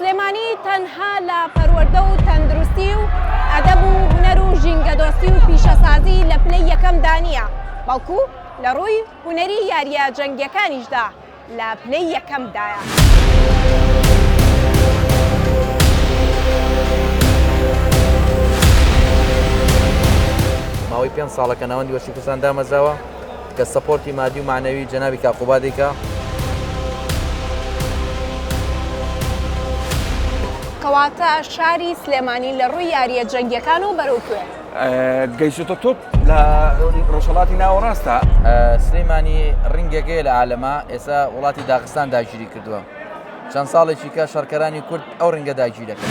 سلێمانی تەنها لە پەروەردە و تەندروستی و ئەدەب و هونەر و ژینگەدۆستی و پیشەسازی لە پلەی یەکەمدا نییە، بەڵکو لە رووی هونەری یارییە جەنگییەکانیشدا لە پلەی یەکەمدایە. ماوەی پێنج ساڵە کە ناوەندی وەرزشی کوردستان دامەزراوە. کە سەپۆرتی مادی و مەعنەوی جەنابی کاک قوبادی کە. کەواتە شاری سلێمانی لە ڕووی یاریە جەنگیەکانەوە بەرەو کوێ. گەیشتۆتە تۆپ لە ڕۆژهەڵاتی ناوەڕاستدا. سلیمانی ڕینگەکەیە لە عالەما ئێسا وڵاتی داغستان داگیری کردووە چەند ساڵێکی کە شەڕکەرانی کورد ئەو ڕنگە داگیرەکەن.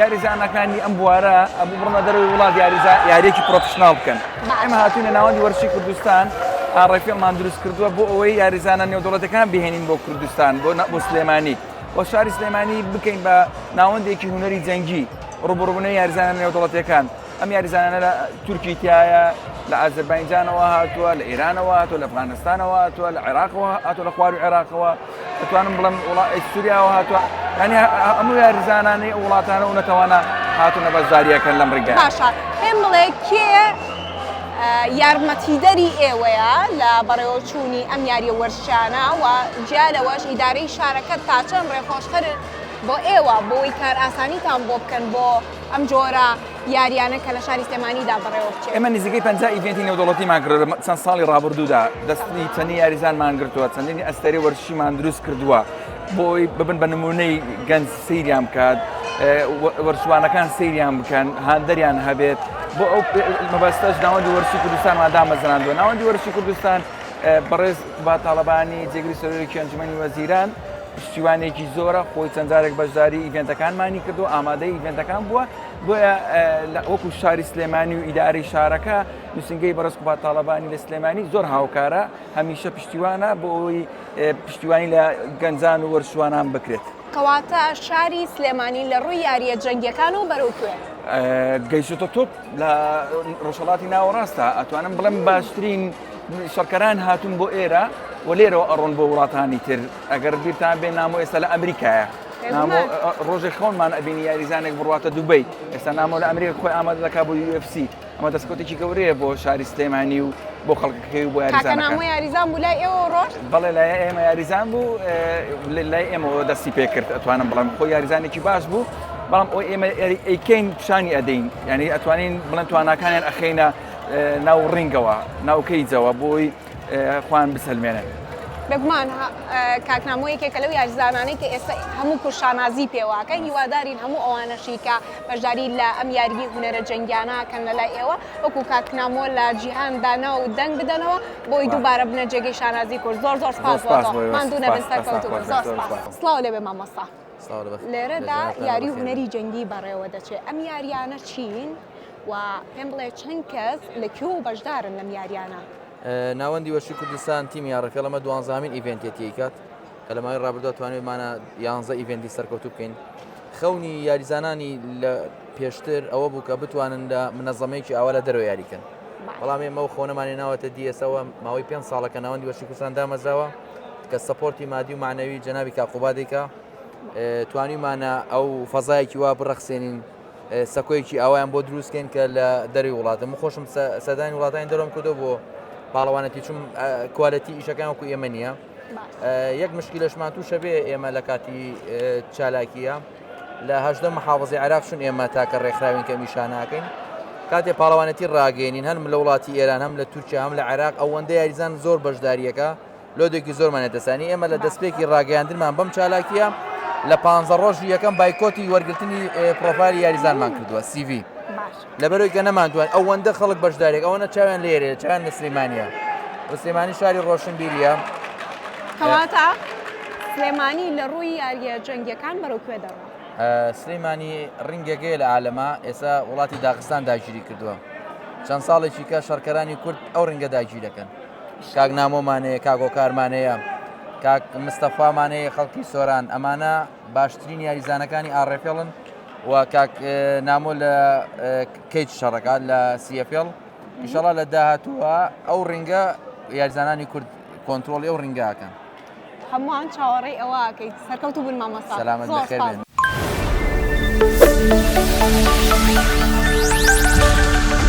یاریزانەکانی ئەم بوارە ئەبوو بڕۆنە دەرەوەی وڵات یاریێکی پرۆفشنناڵ بکەن ئەمە هاتوونە ناوەندی وەرشی کوردستان ئاڕێفێڵمان دروست کردووە بۆ ئەوەی یاریزانە نێودوڵەتەکان بهێنین بۆ کوردستان بۆ نە بۆ سلێمانی بۆ شاری سلێمانی بکەین بە ناوەندێکی هوەری جەنگی ڕوبڕبوونە یاریزانە نێودوڵەتەکان ئەم یاریزانانە لە تورکی تایە لە ئازربایجانەوە هاتووە لە ئێرانەوە هاتووە لە ئەفغانستانەوە هاتووە لە عێراقەوە هاتووە لە خوار و عێراقەوە دەتوانم بڵم وڵاتی سووریاوە هاتووە ینی هەموو یاریزانانی وڵاتانە و نەتەوانە هاتوونە بەشداریەکەن لەم ڕگە باشە پێم بڵێ کێ یارمەتیدەری ئێوەیە لە بەڕێوەچوونی ئەم یاریە وەرشانە و جیالەوەش ئیدارەی شارەکەت تاچەند ڕێخۆشخەر بۆ ئێوە بۆی کار ئاسانیتان بۆ بکەن بۆ ئەم جۆرە یاریانە کە لە شاری سلێمانیدا بەڕێوە بچێت. ئێمە نزیکەی پەنجا ئیڤێنتی نێودەوڵەتیمان کردووە لە چەند ساڵی ڕابردوودا، دەستی چەندین یاریزانمان گرتووە، چەندین ئەستێرەی وەرزشیمان دروست کردووە بۆ ئەوەی ببن بە نموونەی گەنج سەیریان بکات، وەرچوانەکان سەیریان بکەن، هاندەریان هەبێت، بۆ ئەو مەبەستەش ناوەندی وەرزشی کوردستانمان دامەزراندووە. ناوەندی وەرزشی کوردستان بەڕێز قوباد تاڵەبانی جێگری سەرۆکی ئەنجوومەنی وەزیران، پشتیوانێکی زۆرە خۆی چەند جارێک بەشداری ئیڤێنتەکانمانی کردو ئامادەی ئیڤێنتەکان بووە بۆیە وەکو شاری سلێمانی و ئیداری شارەکە نووسنگەی بەڕز قوبا تاالبانی لە سلێمانی زۆر هاوکارە هەمیشە پشتیوانە بۆ ئەوی پشتیوانی لە گەنجان و وەرشوانان بکرێت. کەواتە شاری سلێمانی لە ڕووی یاریە جەنگیەکان و بەرەو کوێ؟ گەیشتۆتە تۆپ لە ڕۆژهەڵاتی ناوەڕاستدا ئەتوانم بڵێم باشترین شەڕکەران هاتوون بۆ ئێرە و لێرەوە ئەڕۆن بۆ وڵاتانی تر ئەگەر بیرتان بێ نامۆ ئێستا لە ئەمریکایە ڕۆژێ خۆنمان ئەبینی یاریزانێک بڕاتە دوبیت ئێستا نامۆ لە ئەمریکا خۆی ئامادە دەکا بۆ UFC ئەمە دەستکوتێکی گەورەیە بۆ شاری سلێمانی و بۆ خەڵکەکەی و بۆ یاریزان یاریزان بوو لای ئێوە ڕۆژ بەڵێ لای ئێمە یاریزان بوو لای ئێمەەوە دەستی پێکرد ئەتوانم بڵم خۆ یاریزانێکی باش بوو بەڵام ئەو ئێمە ئەیکەین پیشانی ئەدەین یعنی ئەتوانین بڵند توانەکانیان ئەخینە ناو ڕینگەوە ناو کەیجەوە بۆی خۆیان بسەلمێنن. بێگومان کاک نامۆ یەکێکە لەو یاریزانانەی کە ئێستا هەموو کورد شانازی پێواکە هیوادارین هەموو ئەوانەشی کە بەشداری لە ئەم یاریی هونەرە جەنگیانە کەن لە لای ئێوە وەکو کاک نامۆ لە جیهاندا ناو و دەنگ بدەنەوە بۆی دووبارە بنە جێگەی شانازی کورد زۆر زۆر سپاس بۆ تۆ ماندوو نەبن سەرکەوتوو بن زۆر سپاس سڵاو لێبێ مامۆستا لێرەدا یاری و هونەری جەنگی بەڕێوە دەچێت ئەم یاریانە چین و پێم بڵێ چەند کەس لە کوێ و بەشدارن لەم یاریانە ناوەندی وەشی کوردستان تیمی یاڕەکە لەمە دوانزامین ئیڤنتێتی کات کە لە ماوەی ڕابردووە توانێتمانە یانزە ئیڤنتی سەرکەوتوو بکەین خەونی یاریزانانی لە پێشتر ئەوە بوو کە بتوانن لە منەزەمەیەکی ئاوا لە دەرەوە یاریکەن بەڵام ئێمە و خۆنەمانی ناوەتە دیەسەوە ماوەی پێ ساڵەکە ناوەندی وەشی کوردستان دامەزراوە کە سەپۆرتی مادی و مەعنەوی جەنابی کاک قوبادێکە توانیمانە ئەو فەزایەکی وا بڕەخسێنین سەکۆیەکی ئاوایان بۆ دروستکەین کە لە دەری وڵاتە من خۆشم سەدانی وڵاتانی دەرم کردو بۆ پاڵەوانەتی چون کوالەتی ئیشەکان وەکو ئێمە نییە یەک مشکلشمان تووشە بێ ئێمە لە کاتی چالاکیە لە هەشدە محافظی عراق چون ئێمە تاکە ڕێکخراوین کە میشاناکەین کاتێ پاڵەوانەتی ڕاگەێنین هەم لە وڵاتی ئێران هەم لە تورکیا هەم لە عێراق ئەوەندە یاریزان زۆر بەشداریەکە لۆدێکی زۆرمان لەدەستدانی، ئێمە لە دەستپێکی ڕاگەیاندنمان بەم چالاکییە لە پانزە ڕۆژی یەکەم بایکۆتی وەرگرتنی پرۆفایلی یاریزانمان کردووە، سی ڤی. لەبەرئەوەی کە نەمانتوانی ئەوەندە خەڵک بەشدارێک ئەوەنە چاویان لێرەیە چاویان لە سلێمانییە و سلێمانی شاری ڕۆشنبیرییە کەواتە سلێمانی لە ڕووی یارییە جەنگیەکان بەرەو کوێ دەڕۆ سلێمانی ڕینگەکەی لە عالەما ئێستا وڵاتی داخستان داگیری کردووە چەند ساڵێکی کە شەڕکەرانی کورد ئەو ڕینگە داگیرەکەن کاک نامۆمان هەیە کاک هۆکارمان هەیە کاک مستەفامان هەیە خەڵکی سۆران ئەمانە باشترین یاریزانەکانی ئاڕێفێڵن و کاک نامۆ لە کەیت شەڕەکە لە سیفێڵ ئیشەڵا لە داهاتووە ئەو ڕینگە یاریزانانی کورد کۆنتترۆڵی ئەو ڕینگاکەن هەمووان چاوەڕێی ئەوەکەیت سەرکەوت و بن مامەسا سەلامەت بەخێر Thank you.